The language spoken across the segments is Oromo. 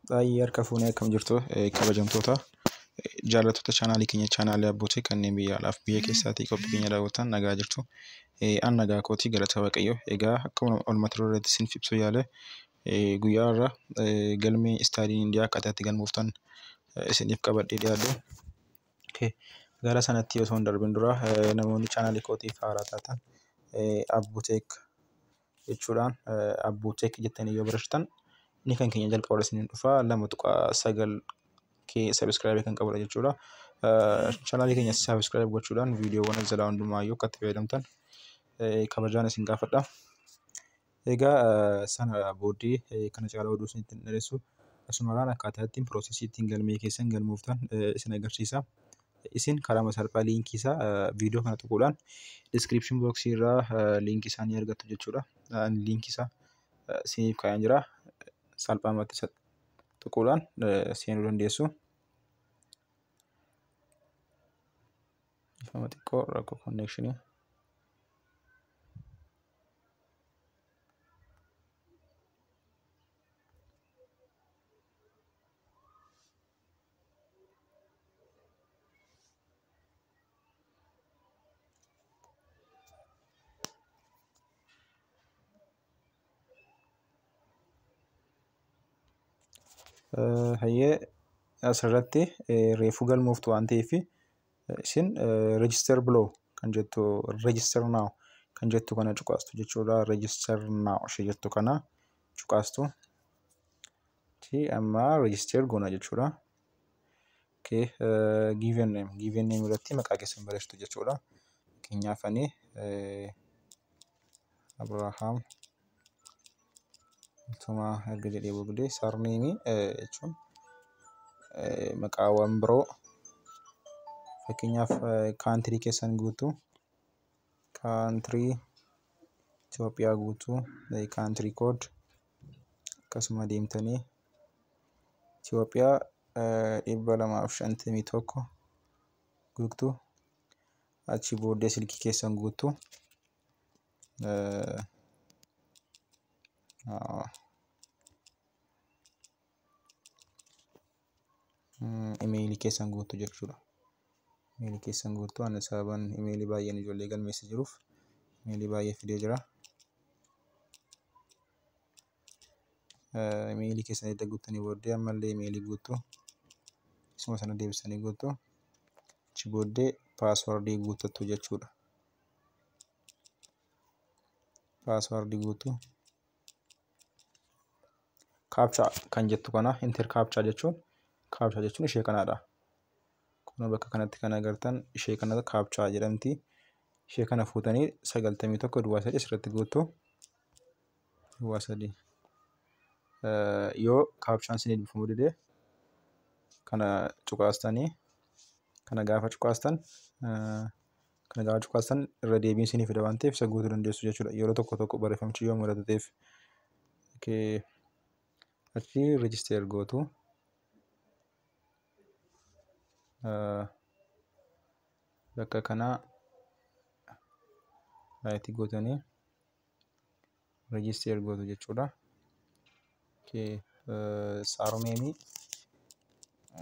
Baay'ee harka fuunee akkam jirtu eh, kabajamtoota eh, jaallattoota chaanaalii keenya chaanaalii abbootii kanneen biyya alaaf biyya keessaatii qophii keenya daawwatan nagaa jirtu. Eh, An nagaa kootii galata waaqayyoo. Egaa akkuma olmata irratti isin ibsu yaale eh, guyyaa irra eh, galmee istaadiin indiyaa akkaataa itti galmooftan eh, isiniif qabadhee dhiyaadhe. Okay. Gara sanatti osoo hin darbin dura eh, namoonni chaanaalii kootiif haaraa taatan eh, Abbuteek jechuudhaan abbuu check jettanii yoo barreessitan inni kan keenya jalqaba isiniin dhufa lama tuqaa sagal kee sabiskiraaybii kan qabudha jechuudha. Chanaalii keenya sabiskiraaybii gochuudhaan viidiyoowwan as jalaa hundumaayyuu akka itti fayyadamtan kabajaan isin gaafadha. Egaa sana booddee kana caalaa oduu isinitti hin dheeressu. Asumarraan akkaataa ittiin piroosesii ittiin galmee keessan galmooftan isin agarsiisa. isin karama salphaa liinkii isaa viidiyoo kana tuquudhaan description box irraa liinkii isaa ni argattu jechuudha. Liinkii isaa siiniif kaa'een jira. Salphaamatti isa tuquudhaan seenuu dandeessu. Ifama xiqqoo rakkoo konneekshinii. Hayyee asirratti reefuu galmooftu waan ta'eef isin register below kan jettu register now kan jettu kana cuqaastu jechuudha. Register now ishee jettu kana cuqaastu. Okay, amma register goona jechuudha. Okay, uh, given name. Given name irratti maqaa keessan barreessitu jechuudha. Fakkeenyaaf ani eh, Abrahaam Tumaa erga jedhee booddee sarneemii eh, jechuun eh, maqaawwan biroo fakkeenyaaf eh, kaantirii keessan guutuu kaantirii Itoophiyaa guutuu eh, kaantirii kood akkasuma deemtanii Itoophiyaa dhibba lamaa fi shantamii tokko guuttu achi booddee silkii keessan guuttu. imeeyilii keessan guutu jechuudha. Imeeyilii keessan guutu ani sababaan imeeyilii baay'een ijoollee galmeessa jiruuf imeeyilii baay'ee fidee jira. Imeeyilii keessan edda guuttanii booddee ammallee imeeyilii guutu isuma sana deebisanii guutu achi booddee paaswardii guutattu jechuudha. Paaswardii guutu. Kaapchaa kan jettu kana inter kaapchaa jechuun kaapchaa jechuun ishee kanaadha. Kun bakka kanatti kan agartan ishee kana kaapchaa jedhamti. Ishee kana fuutanii sagaltamii tokko duwwaa sadii asirratti guuttu. Duwwaa sadii. Yoo kaapchaan isin eebbifamuu dide kana cuqaastanii kana gaafa cuqaastan Kana caalaa cuqaastan irra deebiin sinii fida waan ta'eef isa guutuu dandeessu jechuudha. Yeroo tokko tokko barreeffamichi yoo mudatu ta'eef. Achi register gootu. Bakka kanaa raayitii gootanii register gootu jechuudha. Okay. Saaromeemii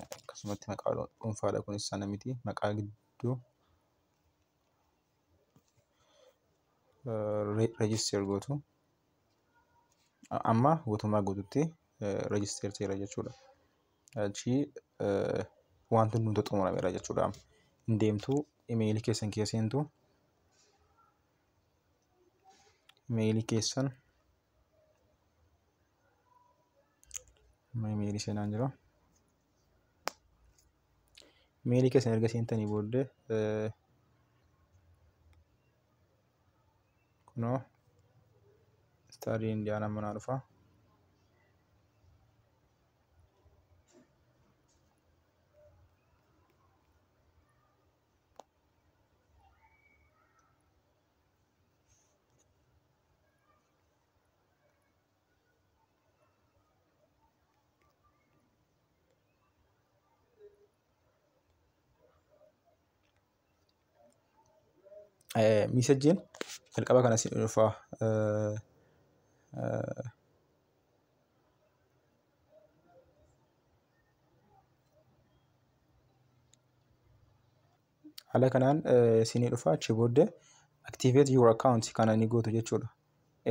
akkasumatti maqaa dhuunfaadha kunis sana miti maqaa gidduu register gootu amma guutummaa guututti register ta'eera jechuudha. Achi wanti hundi xumurameera jechuudha. Hin deemtu imeeyilii keessan keessa seentu imeeyilii keessan amma imeeyilii seenaan jira imeeyilii keessan erga seentanii booddee eh, kunoo istaadii indiyaanaa manaa dhufa miisajjiin jalqaba kana si dhufa haala kanaan isinii dhufa achi booddee activate your account kana ni gootu jechuudha.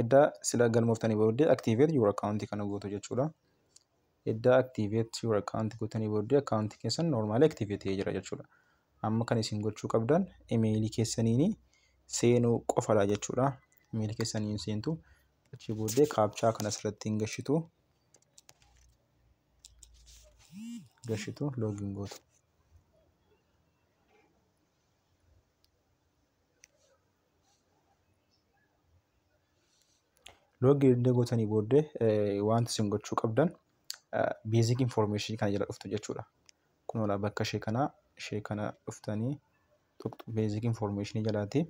Edda sila galmooftanii booddee activate your account kana gootu jechuudha. Edda activate your account gootanii booddee account keessan normaali activate ta'ee jira jechuudha. Amma kan isin gochuu qabdan imeelii keessaniin seenuu qofadha jechuudha. Imeelii keessaniin seentu achi booddee kaapchaa kana asirratti hin gashitu. gashitu login gootu. Login erga gootanii booddee wanti isin gochuu qabdan basic information kana jala dhuftu jechuudha. Kunoodha bakka ishee kana ishee kana dhuftanii tuqxu basic information jalaati.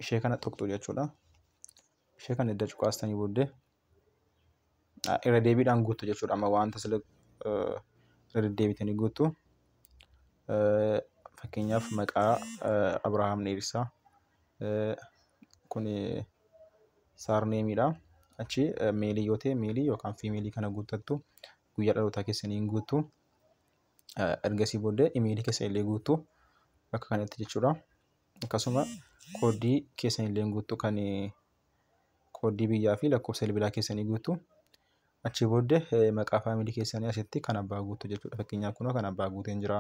ishee kana tuqxu jechuudha. Ishee kana edda cuqaastanii booddee irra deebiidhaan guuttu jechuudha. Amma wanta sila irra deddeebitanii guuttu fakkeenyaaf maqaa Abrahaam dheerissaa kun saarneemiidha. Achi meelii yoo ta'e meelii yookaan fiimeelii kana guuttattu guyyaa dhalootaa keessanii hin guuttu. Ergasii booddee imeelii keessa illee guuttu bakka kanatti jechuudha. akkasuma kooddii keessan illee guuttu kan kooddii biyyaa fi lakkoofsa bilbilaa keessanii guuttu. Achii booddee eh, maqaa faamilii keessanii asitti kan abbaa guuttu jechuudha. Fakkeenyaaf kunoo kan abbaa guuteen jira.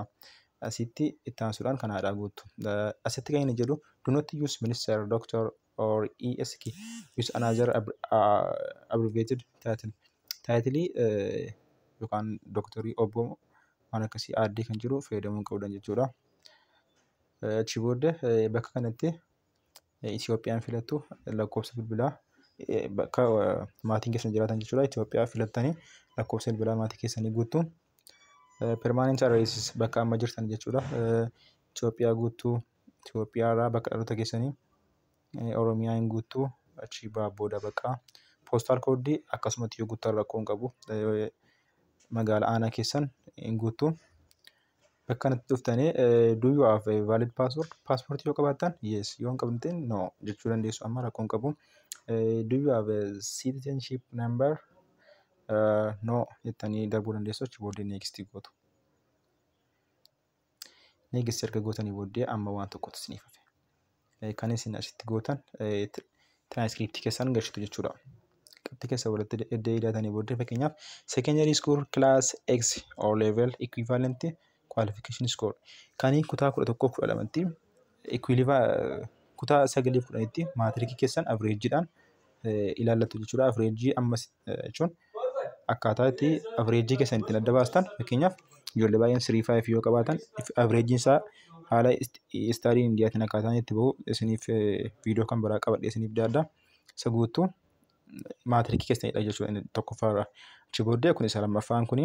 Asitti itti aansuudhaan kan haadhaa guuttu. Eh, Asitti kan inni jedhu do not use minister, doctor or ESK use another ab- ah, abbreviated title. Taayitilii eh, yookaan doktorii obbo waan akkasii aaddee kan jiru fayyadamuu hin qabdan jechuudha. Achi booda eh, bakka kanatti eh, Itoophiyaan filattu lakkoofsa bilbilaa eh, bakka eh, maatiin keessan jiraatan jechuudha. Itoophiyaa filattanii lakkoofsa bilbilaa maatii keessanii guuttu. Permanent address bakka amma jirtan jechuudha. Eh, Itoophiyaa guuttu. Itoophiyaa irraa bakka dhaloota keessanii eh, Oromiyaa hin guuttu. Achi baa booda bakka poostaal koodii akkasumatti yoo guuttan rakkoo hin qabu. Eh, Magaala aanaa keessan hin guuttu. Bakka kanatti dhuftanii eh, do you have a valid passport? Paaspoortii yoo qabaattan yes, yoo hin qabne no jechuu dandeessu. Amma rakkoon qabu. Eh, do you have a citizenship number? Eh, no jettanii darbuu dandeessu. Achi booddee next gootu. Next erga gootanii booddee amma waan tokkotu isiniif hafe. kan isin asitti gootan tiraanskriptii keessan galchitu jechuudha. Qabxii keessa walitti edda idaatanii booddee fakkeenyaaf secondary school class X or level equivalent qualification score kan kutaa kudha tokkoo kudha lamatti kutaa sagalii kudhanitti maatirikii keessan avreejiidhaan ilaallatu jechuudha. Avreejii ammas jechuun akkaataa itti average keessan ittiin adda baastan fakkeenyaaf ijoollee baay'een 3-5 yoo qabaatan average isaa haala istaadii indiyaatiin akkaataa itti bahu isiniif viidiyoo kan biraa qabadhee isiniif daadda isa guutuu maatirikii keessanidha jechuudha inni tokkoffaarra achi booddee kun isa lammaffaan kuni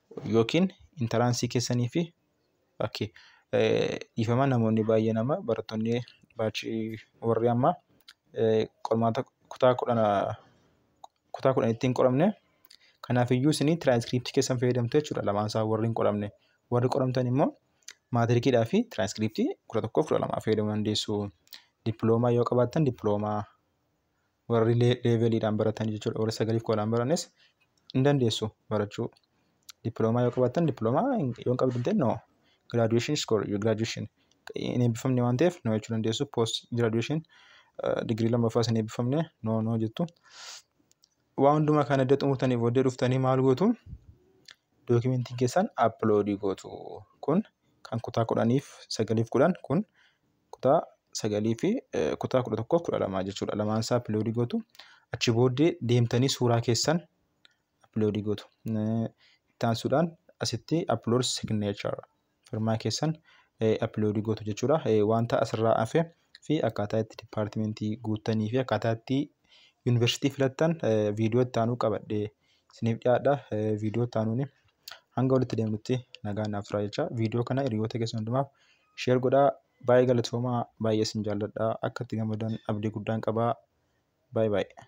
yookiin intaraansii keessanii fi okay. dhiifama namoonni baay'een amma barattoonni baachii warri amma qormaata kutaa kudhana kutaa kudhanitti hin qoramne kanaaf iyyuu isinii tiraanskriptii keessan fayyadamtu jechuudha lamaan isaa warri hin qoramne warri qoramtan immoo maatirikiidhaa fi tiraanskriptii kudha tokkoof kudha lamaa fayyadamuu dandeessu dippiloomaa yoo qabaattan dippiloomaa warri leeveliidhaan baratan jechuudha warri sagaliif qoodaan baranes hin dandeessu barachuu. Dippiloomaa yoo qabaattan dippiloomaa yoo hin qabdu ta'e noo giraaduweeshin iskoor giraaduweeshin hin eebbifamne waan ta'eef noo jechuu dandeessu poost giraaduweeshin digirii lammaffaas hin eebbifamne noo noo jettu. Waan hundumaa kana edda xumurtanii booddee dhuftanii maal gootu dookimentiin keessan appiloodii gootu kun kan kutaa kudhaniif sagaliif kudhan kun kutaa sagalii fi kutaa kudha tokkoof kudha lamaa jechuudha. Lamaan isaa upload gootu. Achi booddee deemtanii suuraa keessan upload gootu. Itti aansuudhaan asitti upload signature firmaa keessan upload gootu jechuudha. Wanta asirraa hafe fi akkaataa itti dipaartimentii guuttanii fi akkaataa itti yuunivarsiitii filattan viidiyoo itti aanuu qabadhee isiniif dhiyaadha. Viidiyoo itti aanuun hanga walitti deemnutti nagaan naaf turaa jecha viidiyoo kana hiriyoota keessan hundumaaf Share godhaa. Baay'ee galatoomaa. Baay'ee isin jaalladha. Akka itti gammadan abdii guddaan qaba. Baay'ee baay'ee.